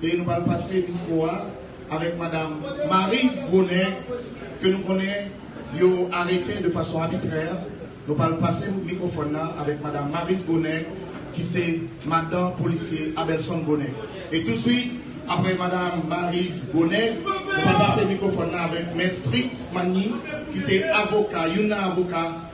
E nou pral pase mikwo a avèk madam Maryse Brunet ke nou konnen yo arete de fason abitrè. Nou pral pase mikwofòn nan avèk madam Maryse Brunet ki se madan polisye Abelson Brunet. E touswit apre madam Maryse Brunet, nou pral pase mikwofòn nan avèk mèt Fritz Magny ki se avoka, youn nan avoka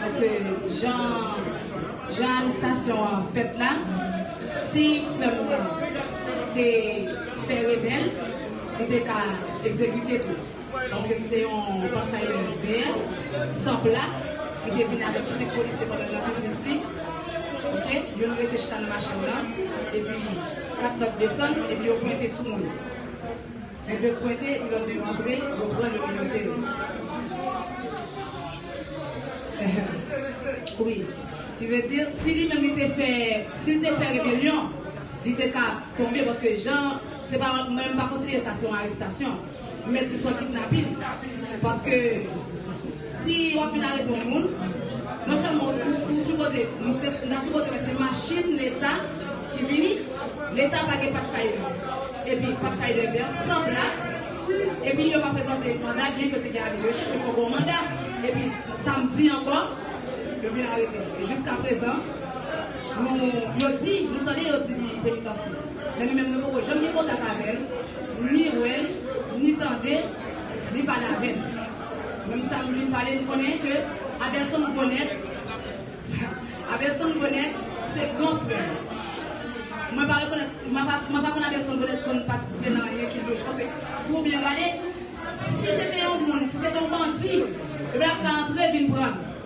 Paske jan jan arestasyon an fèt la si frè m nan te fè rebèl li te ka egzekite tou paske se te yon Pathfinder beer san plak li te vin avèk 5 polisye pandan nan biznis li ok youn rete chita nan machin nan epi 4 lòt desann epi yo pwente sou moun. Yo de pwente, yo de antre, yo pran yo minote yo. Ehem. Wi. Ki vle di, si li menm li te fè, si li te fè rebelyon, li te ka tonbe paske jan, se pa, mwen menm m pa konsidere sa se yon arestasyon. M mèt di s on kidnapin. Paske Si wap vin arete yon moun, non sèlman ou sipoze, nou ta sipoze wè se machin leta ki vini, leta pa gen pathfinder epi pathfinder vè san plak, epi yo pa prezante manda byen ke yo te gen avi de rechèch men fòk gen yon manda, epi samdi ankò yo vin arete l e jiska prezan nou yo di nou tande yo di li penitansye men nou menm nou poko janm gen kontak avè l ni wè l ni tande li pale avè n. Moun sa m vin pale m konnen ke Abelson Gonèt Abelson Gonèt se gran frè m. Mwen pa rekonèt mwen pa mwen pa konn Abelson Gonèt konn patisipe nan anyen ki louch paske pou w byen gade si se te yon moun si se te yon bandi ebyen l ap ka antre vin pran l.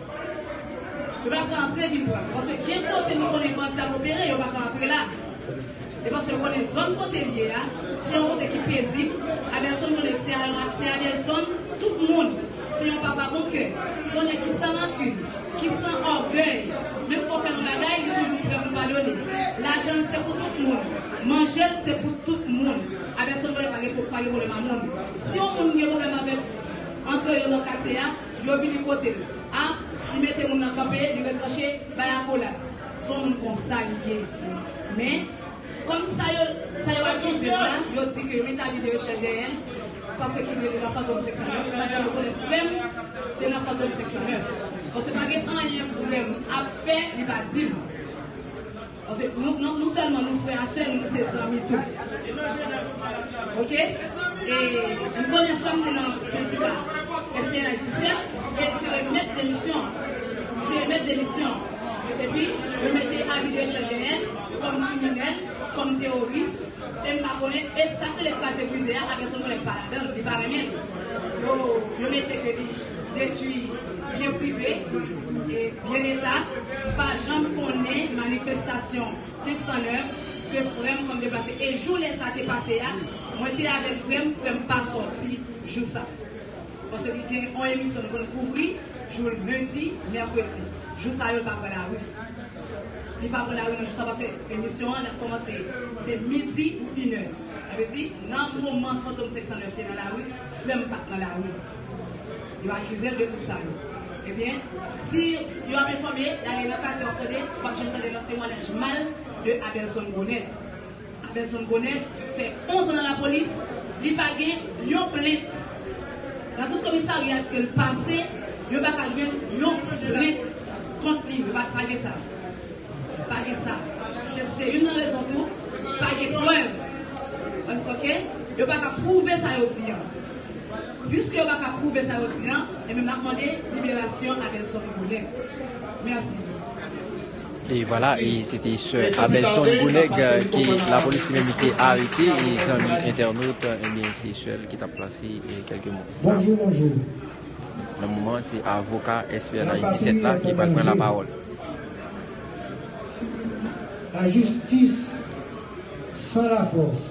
Yo pa ka antre vin pran. Paske gen kote nou konnen bandi ap opere, yo pa ka antre la. E paske yo konnen zòn kote l ye a, se yon kote ki pezib. Abelson konnen l, se Abelson tout moun. Se yon papa bon kè. Se yon nèg ki san rankin, ki san ògèy. Menm ke w fè l yon bagay, li toujou prè pou l padone. Lajan l se pou tout moun. Manje l se pou tout moun. Abelson konnen pa gen pwoblèm mamoun. Si yon moun gen pwoblèm avèk antre yo nan katye a, Yo vini kote l. A, li mete moun nan kanpe, li retranche, bay akolad. S on moun konsa li ye. Men, kòm sa yo, sa yo akize l la, yo di ke yo mete avi de rechèch dèyè l, paske ki rele nan Fantom 509, m ap janm rekonèt frè m te nan Fantom 509. Paske pa gen anyen frè m ap fè li pa di m. Paske nou selman nou frè a sè nou nou se zanmi tou ok e nou konnen fanm te nan sendika SPNH 17 e li te remèt demisyon li te remèt demisyon epi yo mete avi de chè dèyèl kòm kriminèl kòm teworis e m pa konnen e sak rele kraze brize a aganson konnen pa ladanl li pa renmenl yo mete ke li. detwi byen prive e byen leta m pa janm konnen manifestasyon 509 ke frèm konn deplase e jou lè sa te pase a mwen te avèk frèm frèm pa sòti jou sa paske li gen on emisyon li konn kouvri jou lendi mèkredi jou sa yo l pa pran lari li pa pran lari nan jou sa paske emisyon an ap kòmanse se midi ou inè sa vle di nan moman fantom 509 te nan lari frèm pat nan lari. Yo akizel de tout sa yo. Ebyen si yo ap enfòme y ale nan katye wap tande wap janm tande lòt temwanyaj mal de Abelson Gonève. Abelson Gonève fè 11 an nan lapolis li pa gen yon plent. Nan tout komisarya ke l pase yo pa ka jwenn yon plent kont li. Yo pa gen sa. Pa gen sa. Se se youn nan rezon tou pa gen prèv. Ok? Yo pa ka pwouve sa yo di an. Puiske yo paka prouve sa yo di an, enben map mande liberasyon Abelson Gounèg. Merci. E vwala e se te sè Abelson Gounèg ke lapolis li menm li te arete e zanmi entènot enben se sè l ki tap plase kèlke mo. Bonjou bonjou. Nan moman an se avoka SPNH 17 la ki pral pran lapawòl. La jistis san lafòs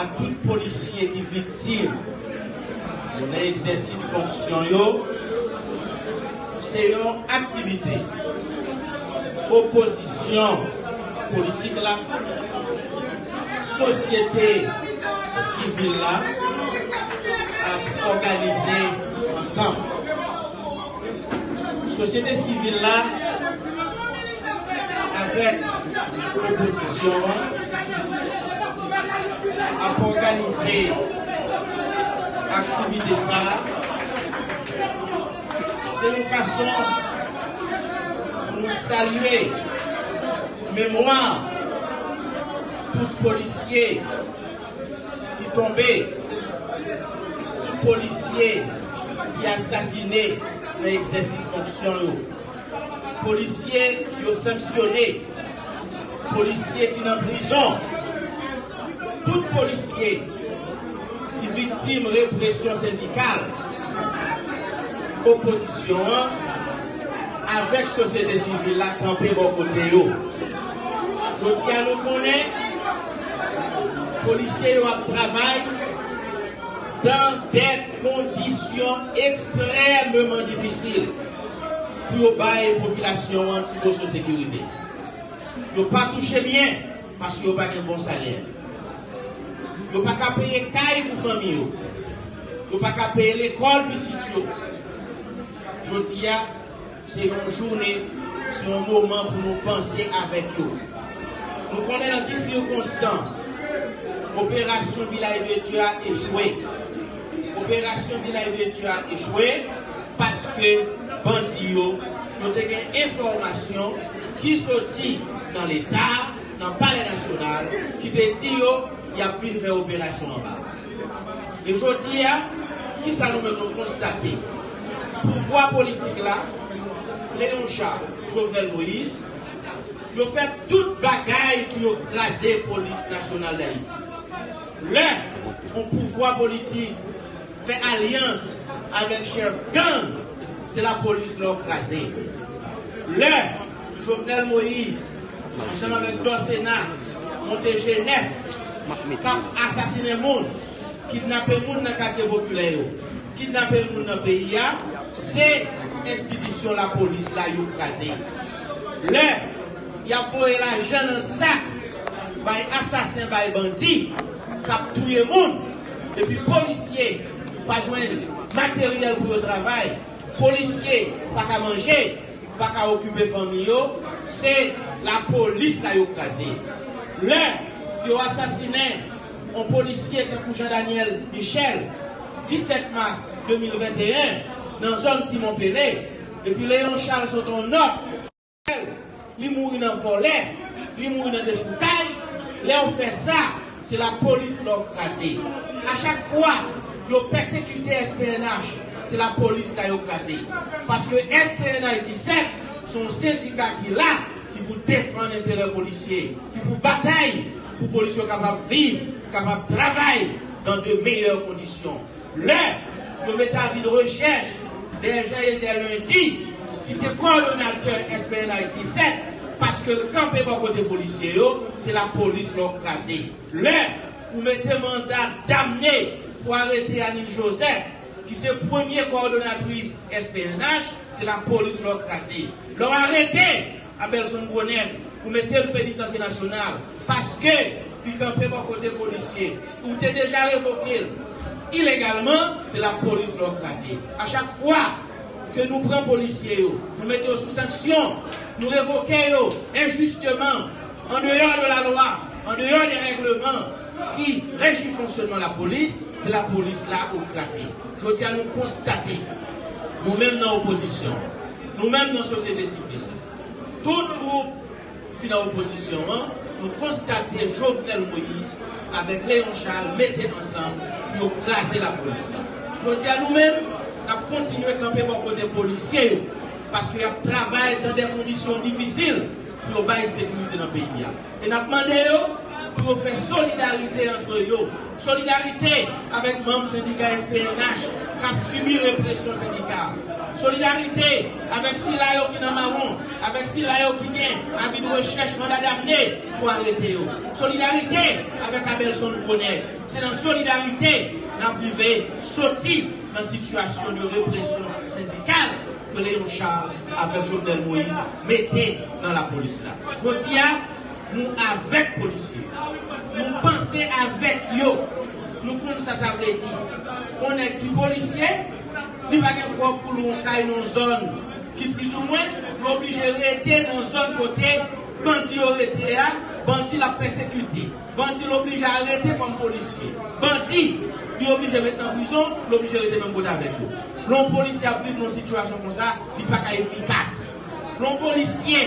ak tout polisye ki viktim yo nan egzèsis fonksyon yo se yon aktivite opozisyon politik la, sosyete sivil la ap òganize ansanm. Sosyete sivil la avèk opozisyon an ap òganize aktivite sa a. Se yon fason pou nou salye memwa tout polisye. ki tonbe tout polisye ki asasine nan egzèsis fonksyon yo polisye yo sanksyone polisye ki nan prizon tout polisye ki viktim represyon sendikal opozisyon an avèk sosyete sivil la kanpe bò kote yo jodi a nou konnen. Polisye yo ap travay dan dè kondisyon ekstrèmeman difisil pou yo bay popilasyon an ti moso sekirite. Yo pa touche byen paske yo pa gen bon salè. Yo pa ka peye kay pou fanmi yo. Yo pa ka peye lekòl pitit yo. Jodi a. Se yon jounen, se yon moman pou nou panse avèk yo. Nou konnen nan ki sikonstans operasyon Vilaj de Dye a echwe. Operasyon Vilaj de Dye a echwe paske bandi yo, yo te gen enfòmasyon ki soti nan Leta, nan Palè Nasyonal, ki te di yo y ap vin fè operasyon anba. E jodi a, ki sa nou menm nou konstate? pouvwa politik la, Léon Charles, Jovenel Moïse, yo fè tout bagay pou yo kraze Polis Nasyonal Dayiti. Lè yon pouvwa politik fè alyans avèk chèf gang, se lapolis la yo kraze. Lè Jovenel Moïse ansanm avèk Dorcena monte G9, k ap asasinen moun, kidnape moun nan katye popilè yo, Kidnape moun nan peyi a se enstitisyon lapolis la yo kraze. Lè y ap voye lajan nan sak bay asasen bay bandi k ap touye moun epi polisye pa jwenn materyèl pou yo travay, polisye pa ka manje, pa ka okipe fanmi yo se lapolis la yo kraze. Lè yo asasinen On polisye tankou Jean Daniel Michel 17 mas 2021 nan zòn Simon Pele epi Léon Charles sot on nòt pou Michel li mouri nan vòlè li mouri nan dechoukay lèw fè sa se la polis lòw kraze a chak fwa yo pèsekite SPNH se la polis la yo kraze paske SPNH 17 son sendika ki la ki pou defann enterè polisye ki pou batay pou polis yo kapab viv, kapab travay dan de meyè kondisyon. Lè yo mete avid rechèch dèyè Jean-Ether Lundi ki se kowòdonatè SPNH 17 paske l kanpe bò kote polisye yo, se lapolis lè w kraze. Lè ou mete manda damne pou arete Anil Joseph ki se premye kowòdonatris SPNH, se lapolis lè w kraze. Lè w arete. apèl zon bonèm pou mete l penitansye nasyonal paske li kanpe bò kote polisye ou te deja revoke l ilegalman se lapolis lò kraze a chak fwa ke nou pran polisye yo nou mete yo sou sanksyon nou revoke yo enjisteman andeyò de lalwa andeyò de règleman ki reji fonksyonman lapolis se lapolis la ou kraze jodi a nou konstate nou menm nan opozisyon. Nou menm nan sosyete sivil, tout gwoup ki nan opozisyon an, nou konstate Jovenel Moïse avèk Léon Charles mete ansanm pou yo kraze lapolis la. Jodi a nou menm, n ap kontinye kanpe bò kote polisye yo, paske y ap travay nan de kondisyon difisil pou yo bay sekirite nan peyi a. E n ap mande yo pou yo fè solidarite antre yo, solidarite avèk manm sendika SPNH k ap sibi represyon sendika, solidarite avèk sila yo ki nan mawon, avèk sila yo ki gen avi de rechèch manda damne pou arete yo, solidarite avèk Abelson Bonè. Se nan solidarite n ap rive soti nan sitiyasyon de represyon sendikal. Rele yon char avek jovenel moise mete nan la police la. Jodia nou avek polisye. Nou panse avek yo. Nou konn sa sa vle di. Yon neg ki polisye li pa gen prob pou lou yon kay nan yon zon ki plis ou mwen li oblije rete nan zon kote bandi yo rete a bandi lap pesekite. Bandi l oblije arete kòm polisye. Bandi Li oblije met nan prizon, l oblije rete menm kote avèk yo. Lè yon polisye ap viv nan yon sitiyasyon konsa, li pa ka efikas. Lè yon polisye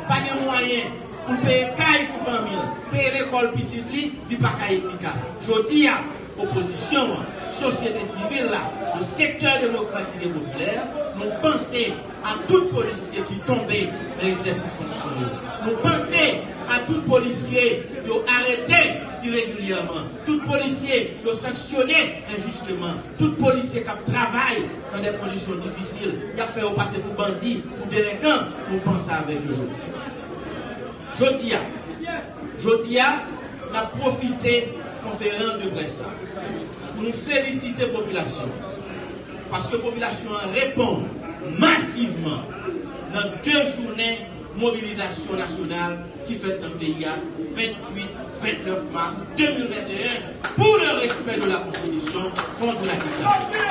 pa gen mwayen pou l peye kay pou fanmi l, peye lekòl pitit li, li pa ka efikas. Jodi a, opozisyon an, sosyete sivil la, le secteur democratique et populaire, nou panse. a tout polisye ki tonbe nan egzèsis fonksyon yo. Nou panse a tout polisye yo arete iregilyèman, tout polisye yo sanksyone enjisteman, tout polisye k ap travay nan de kondisyon difisil, y ap fè yo pase pou bandi, pou delenkan, nou panse avèk yo jodi a. Jodi a, jodi a, n ap pwofite konferans de près sa pou nou felisite popilasyon an. Paske popilasyon an reponn masivman nan 2 jounen mobilizasyon nasyonal ki fèt nan peyi a 28, 29 mas 2021 pour le respect de la constitution contre la dictature.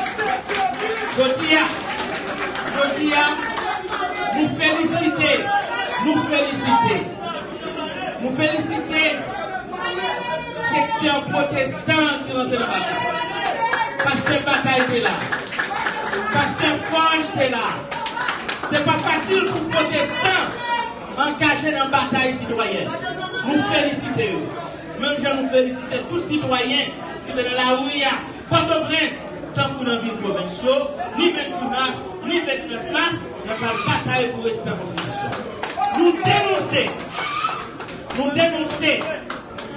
Jodi a, jodi a, nou felisite, nou felisite. Nou felisite sektè pwotestan an ki rantre nan batay. Pastè Batay te la. Pastè Forge te la. Se pa fasil pou pwotestan angaje nan batay sitwayèn. Nou felisite yo. Menm jan nou felisite tout sitwayen ki te nan lari a. Pòtoprens, tankou nan vil pwovens yo, ni 28 mas, ni 29 mas, nan kad batay pou respè konstitisyon an. Nou denonse Nou denonse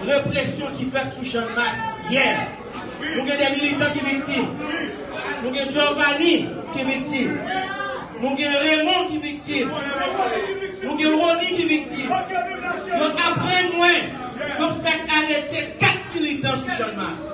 represyon ki fèt sou Channmas yè. Nou gen 2 militan ki viktim. Nou gen Giovanni ki viktim. Nou gen Raymond ki viktim. Nou gen Rony ki viktim. Yo aprann mwen yo fèk arete 4 militan sou Channmas.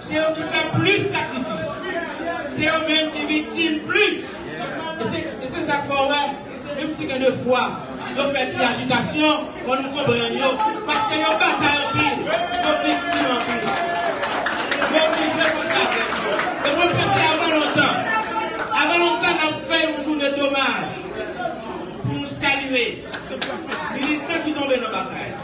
Se yo ki fè plis sakrifis. Se yo menm ki viktim plis. E se sa k fè w wè, menm si gen de fwa yo fè ti ajitasyon, fò nou konprann yo, paske yo batay anpil, yo viktim anpil. Yo oblije fè sa vre. E mwen panse avan lontan, avan lontan n ap fè yon jounen domaj pou nou salye militan ki tonbe nan batay.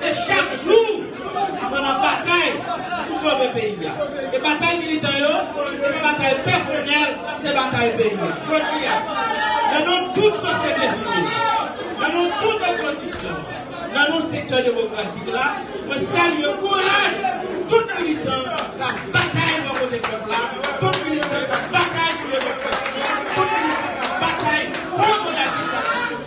E chak jou nou pran nan batay pou sove peyi a. E batay militan yo, se pa batay pèsonèl, se batay peyi a. Jodi a, nan non tout sosyete sivil, nan non tout opozisyon, nan non sektè demokratik la, mwen salye kouraj tout militan k ap batay bò kote pèp la, tout militan k ap batay pou demokrasi, tout militan k ap batay kont manda diktatè.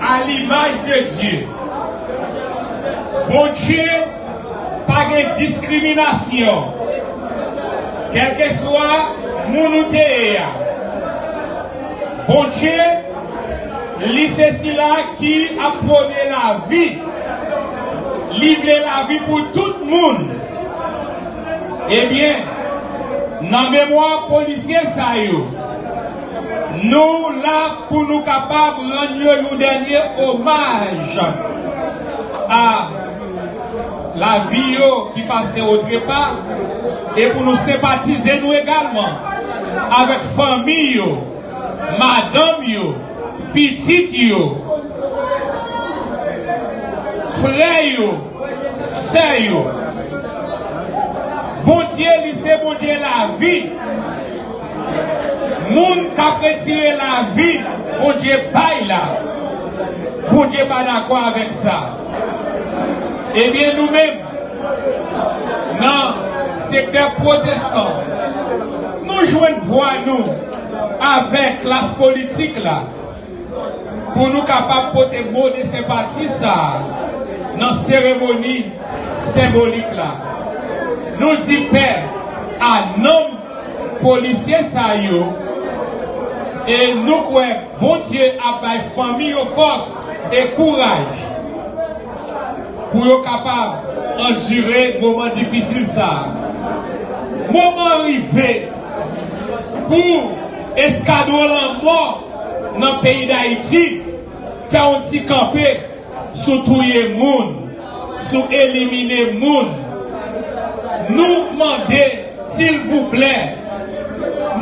A l'image de Dieu. Bondye pa gen diskriminasyon. Kèlkeswa moun ou te ye a. Bondye, li se sila ki ap pwone lavi. Li vle lavi pou tout moun. Ebyen, nan memwa polisye sa yo. Nou la pou nou kapab rann yo yon dènye omaj a lavi yo ki pase o trepa e pou nou senpatize nou egalman avèk fanmi yo, madanm yo, pitit yo, frè yo, sè yo. Bondye li se Bondye lavi. Moun kap retire lavi Bondye bay la Bondye pa dakò avèk sa ebyen nou menm nan sektè pwotestan nou jwenn vwa nou avèk klas politik la pou nou kapab pote mo de senpati sa nan seremoni senbolik la nou di pè a nanm Polisye sa yo e nou kwè Bondye ap bay fanmi yo fòs e kouraj pou yo kapab andire moman difisil sa. Moman an rive pou eskadwon lanmò nan peyi Dayiti fè yon ti kanpe. sou touye moun, sou elimine moun. Nou mande silvouplè,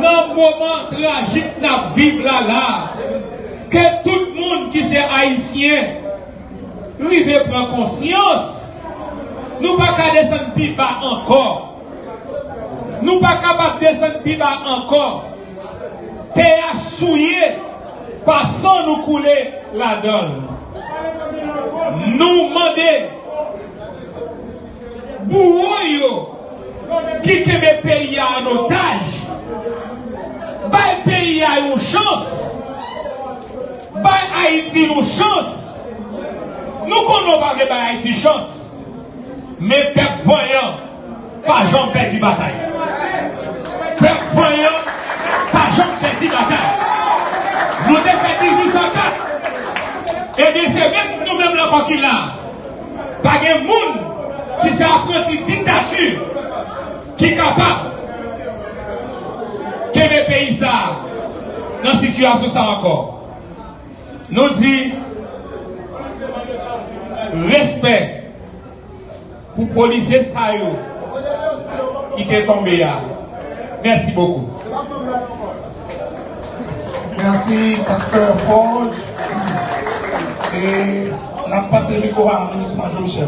nan moman trajik n ap viv la la, ke tout moun ki se Ayisyen rive pran konsyans. Nou pa ka desann pi ba ankò. Nou pa kapab desann pi ba ankò. Tè a souye pa san nou koule ladan l. Nou mande bouwo yo ki kenbe peyi a an otaj, bay peyi a yon chans, bay Ayiti yon chans. Nou konnen w pa vle bay Ayiti chans. Men pèp vanyan pa janm pèdi batay. Pèp vanyan pa janm pèdi batay. Nou te fèt 18 san 4, ebyen se menm nou menm la ankò ki la a. Pa gen moun ki se apranti diktati ki kapab kenbe peyi sa a nan sitiyasyon sa a ankò. Nou di respè pou polisye sa yo ki te tonbe a. Mèsi bokou. Merci Pasteur Forge. Et n'a passé le micro à Ministre Jean Michel.